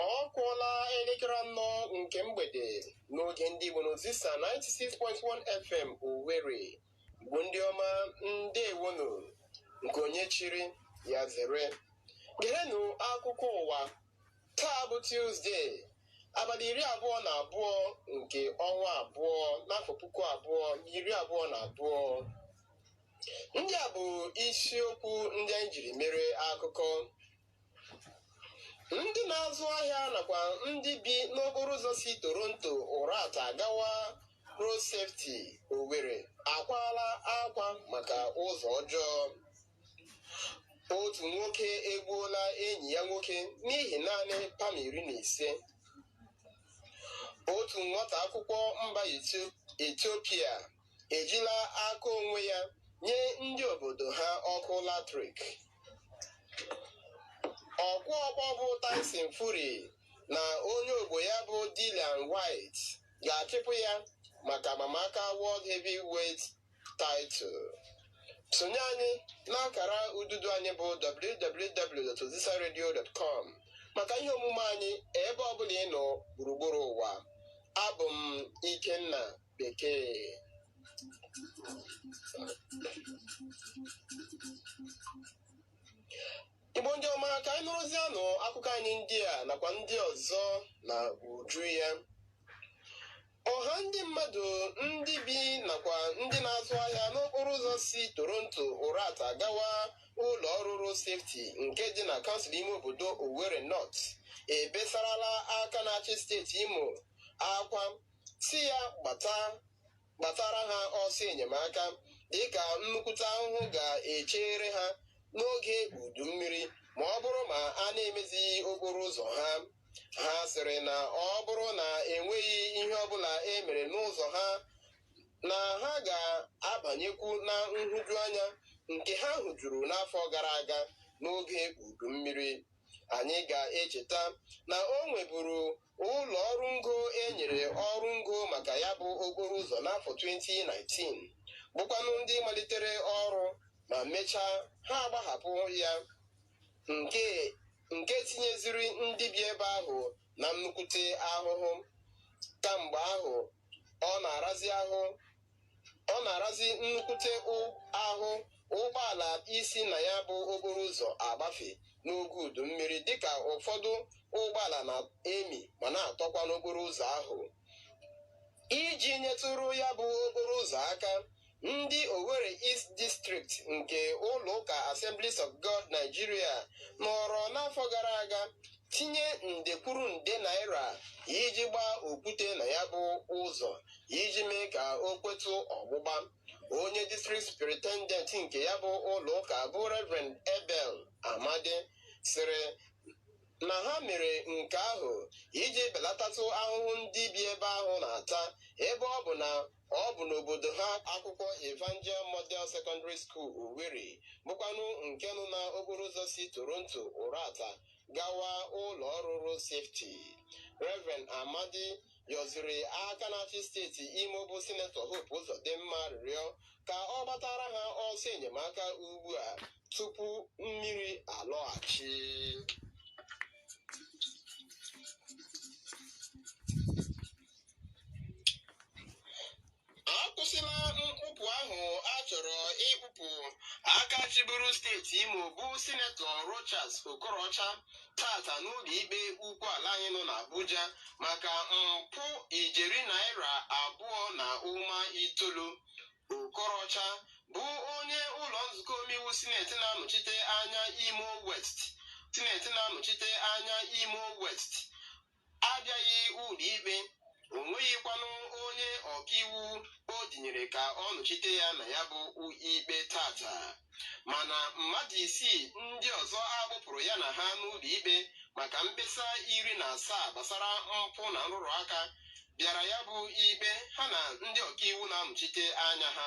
ọ kụọla elekere anọ nke mgbede n'oge ndị Igbo n'Ozisa 96.1 FM Owerri Igbo ndị ọma ndewonu nke onye chiri ya zere gerenụ akụkọ ụwa taa bụ Tuzdee abalị iri abụọ na abụọ nke ọnwa abụọ n'afọ puku abụọ na iri abụọ na abụọ ndị a bụ isiokwu ndị anyị jiri mere akụkọ ndị na-azụ ahịa nakwa ndị bi n'okporo ụzọ si Toronto Uratta gawa Road Safety Owerri akwaala akwa maka ụzọ ọjọọ otu nwoke egbuola enyi ya nwoke n'ihi naanị pam iri na ise otu nwata akwụkwọ mba Ethiopia ejila aka onwe ya nye ndị obodo ha ọkụ latrik. Ọkụ ọkpọ bụ Tyson Fury na onye ogbo ya bụ Dillian Whyte ga-achịpụ ya maka amamaka World Heavyweight title. Sonye anyị n'akara ududo anyị bụ www.ozisaradio.com maka ihe omume anyị ebe ọbụla ị nọ gburugburu ụwa. Abụ m Ikenna Bekee. Igbo ndị ọma ka anyị nụrụzianụ akụkọ anyị ndị a nakwa ndị ọzọ na uju ya ọha ndị mmadụ ndị bi nakwa ndị na-azụ ahịa n'okporo ụzọ si Toronto Uratta gawa ụlọ ọrụ Road Safety nke dị na kansụl ime obodo Owerri North ebesarala aka na-achị steeti Imo akwa sị ya gbata gbatara ha ọsọ enyemaka dịka nnukwute ahụhụ ga-echere ha n'oge udu mmiri ma ọ bụrụ ma a na-emezighị okporo ụzọ ha ha sịrị na ọ bụrụ na enweghị ihe ọbụla e mere n'ụzọ ha na ha ga-abanyekwu na nhụjuanya nke ha hụjuru n'afọ gara aga n'oge udu mmiri anyị ga-echeta na o nweburu ụlọ ọrụ ngo e nyere ọrụ ngo maka ya bụ okporo ụzọ n'afọ 2019 bụkwanụ ndị malitere ọrụ ma mechaa ha agbahapụ ya nke tinyeziri ndị bi ebe ahụ na nnukwute ahụhụ kamgbe ahụ ọ na-arazi ahụ ọ na-arazi nnukwute ahụ ụgbọala isi na ya bụ okporo ụzọ agbafe n'oge udu mmiri dịka ụfọdụ ụgbọala na-emi ma na-atọkwa n'okporo ụzọ ahụ iji nyetụrụ ya bụ okporo ụzọ aka ndị Owerri East District nke ụlọ ụka Assemblies of God Nigeria nọrọ n'afọ gara aga tinye nde kwuru nde naira iji gbaa okwute na ya bụ ụzọ iji mee ka o kwetụ ọgbụgba onye district superintendent nke ya bụ ụlọ ụka bụ reverend Abel Amadi sịrị na ha mere nke ahụ iji belatatụ ahụhụ ndị bi ebe ahụ na-ata ebe ọ bụ na ọ bụ n'obodo ha akwụkwọ Evangel Model Secondary School Owerri bụkwanụ nke nọ na okporo ụzọ si Toronto Uratta gawa ụlọ ọrụ Road Safety Reverend Amadi yọziri aka na-achị steeti Imo bụ Sinetọ Hope Uzodimma arịrịọ ka ọ gbatara ha ọsọ enyemaka ugbu a tupu mmiri alọghachi akwụsịla mkpụpụ ahụ a chọrọ ịkpụpụ aka chịburu steeti Imo bụ sinetọ Rochas Okorocha tata n'ụlọ ikpe ukwu ala anyị nọ n'Abuja maka mpụ ijeri naira abụọ na ụma itoolu Okorocha bụ onye ụlọ nzukọ omeiwu sineti na-anọchite anya Imo West sineti na-anọchite anya Imo West abịaghị ụlọikpe o nweghịkwanụ onye ọkaiwu o dinyere ka ọ nọchite ya na ya bụ ikpe tata mana mmadụ isii ndị ọzọ a kpụpụrụ ya na ha n'ụlọikpe maka mkpesa iri na asaa gbasara mpụ na nrụrụ aka bịara ya bụ ikpe ha na ndị ọkaiwu na-anọchite anya ha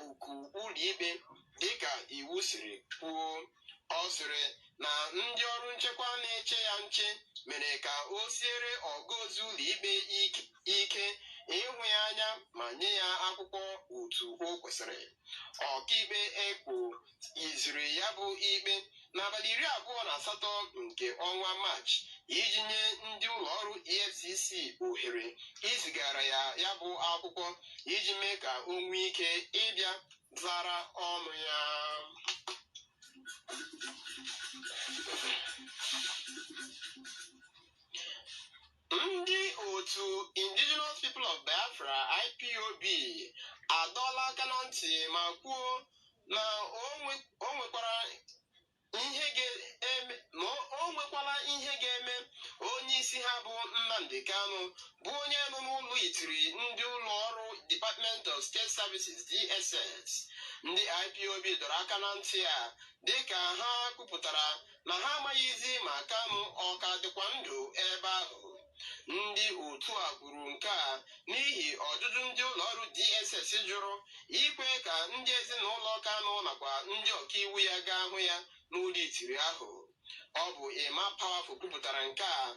oku ụlọikpe dịka iwu siri kwuo ọ sịrị na ndị ọrụ nchekwa na-eche ya nche mere ka o siere ọga ozi ụlọikpe ik- ike ịhụ ya anya ma nye ya akwụkwọ otu o kwesịrị ọkaikpe Ekwo iziri ya bụ ikpe n'abalị iri abụọ na asatọ nke ọnwa maachị iji nye ndị ụlọ ọrụ efcc ohere izigara ya ya bụ akwụkwọ iji mee ka o nwee ike ịbịa zara ọnụ ya Ndị otu Indigenous People of Biafra IPOB adọọla aka na ntị ma kwuo na o nwe- o nwekwara ihe ga-eme ma o- o nwekwala ihe ga-eme onye isi ha bụ Nnamdi Kanu bụ onye nọ n'ụlọ itiri ndị ụlọ ọrụ Department of State Services DSS ndị IPOB dọrọ aka na ntị a dịka ha kwupụtara na ha amaghịzi ma Kanu ọ ka dịkwa ndụ ebe ahụ. Ndị otu a kwuru nke a n'ihi ọjụjụ ndị ụlọọrụ DSS jụrụ ikwe ka ndị ezinụlọ Kanu nakwa ndị ọkaiwu ya gaa hụ ya n'ụlọ itiri ahụ. Ọ bụ Emma Powerful kwupụtara nke a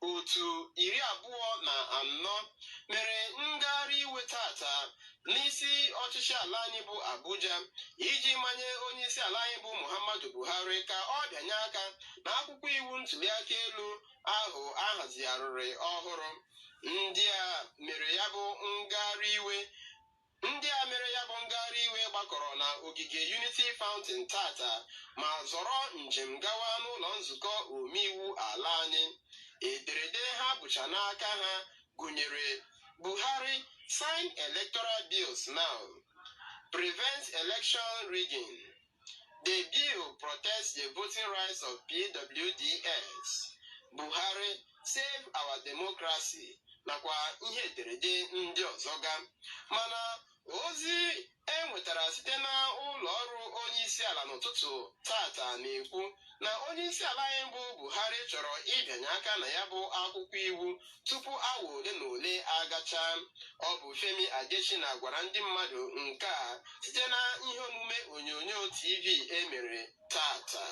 Otu iri abụọ na anọ mere ngagharị iwe tata n'isi ọchịchị ala anyị bụ Abuja iji manye onye isi ala anyị bụ Muhammadu Buhari ka ọ bịanye aka na akwụkwọ iwu ntuliaka elu ahụ a hazigharịrị ọhụrụ. Ndị a mere ya bụ ngagharị iwe Ndị a mere ya bụ ngagharị iwe gbakọrọ na ogige Unity Fountain tata ma zọrọ njem gawa n'ụlọ nzukọ omeiwu ala anyị. Ederede ha bucha n'aka ha gụnyere Buhari sign electoral bills now, prevent election rigging. The bill protects the voting rights of PWDs, Buhari, Save Our Democracy nakwa ihe ederede ndị ọzọ ga mana ozi e nwetara site na ụlọ ọrụ onye isi ala n'ụtụtụ tata na-ekwu na onyeisiala anyị bụ Buhari chọrọ ịbịanye aka na ya bụ akwụkwọ iwu tupu awa ole na ole agacha ọ bụ Femi Adesina gwara ndị mmadụ nke a site na ihe omume onyonyo TV e mere tata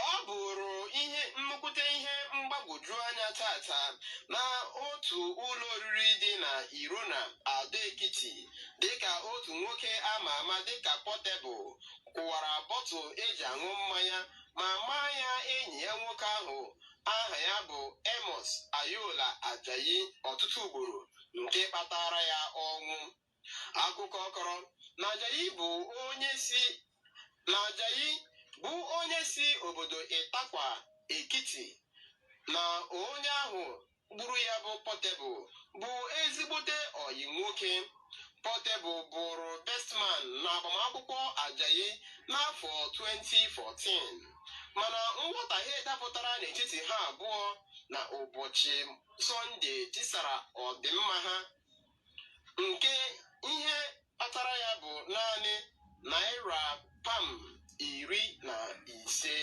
ọ bụrụ ihe nnukwute ihe mgbagwoju anya tata na otu ụlọ oriri dị na Irona Ado Ekiti dịka otu nwoke a ma ama dịka Portable kụwara bọtụl e ji aṅụ mmanya ma maa ya enyi ya nwoke ahụ aha ya bụ Amos Ayola Ajayi ọtụtụ ugboro nke kpatara ya ọnwụ akụkọ kọrọ na Ajayi bụ onye si na Ajayi bụ onye si obodo Itapa Ekiti na onye ahụ gburu ya bụ Portable bụ ezigbote ọyị nwoke Portable bụrụ bestman na agbamakwụkwọ Ajayi n'afọ 2014 mana nghọtahie dapụtara n'etiti ha abụọ na ụbọchị Sọnde tisara ọdịmma ha nke ihe kpatara ya bụ naanị naira pam iri na ise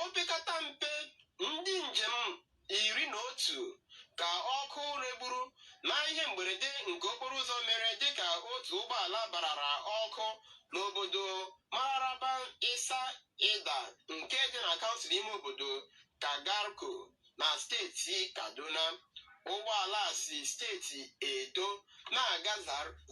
opekata mpe ndị njem iri na otu ka ọkụ regburu na ihe mberede nke okporo ụzọ mere dịka otu ụgbọala barara ọkụ n'obodo Mararaba Isa Ida nke dị na kansụl ime obodo Kagarko na steeti Kaduna ụgbọala si steeti Edo na-aga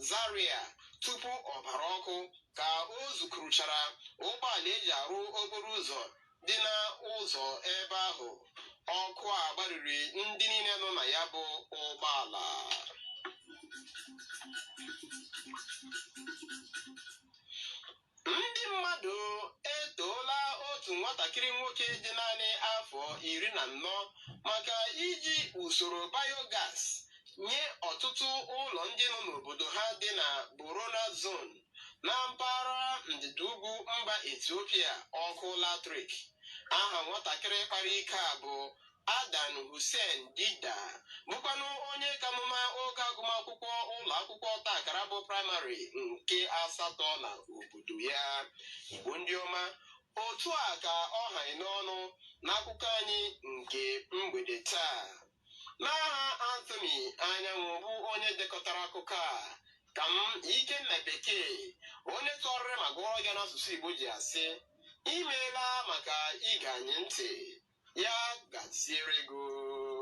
Zaria tupu ọ bara ọkụ ka o zukuruchara ụgbọala eji arụ okporo ụzọ dị n'ụzọ ebe ahụ ọkụ a gbariri ndị niile nọ na ya bụ ụgbọala Ndị mmadụ etoola otu nwatakịrị nwoke dị naanị afọ iri na anọ maka iji usoro biogas nye ọtụtụ ụlọ ndị nọ n'obodo ha dị na Borana Zone na mpaghara ndịda ugwu mba Ethiopia ọkụ latrik. Aha nwatakịrị kpara ike a bụ Adan Hussein Dida bụkwanụ onye ka nọ na oge agụmakwụkwọ ụlọ akwụkwọ ọta akara bụ praịmarị nke asatọ na obodo ya Igbo ndị ọma otu a ka ọ ha anyị n'ọnụ n'akụkọ anyị nke mgbede taa n'aha Anthony Anyanwụ bụ onye dekọtara akụkọ a ka m Ikenna Bekee onye tụgharịrị ma gụọrọ ya n'asụsụ Igbo ji asị imeela maka ige anyị ntị ya gaziere gị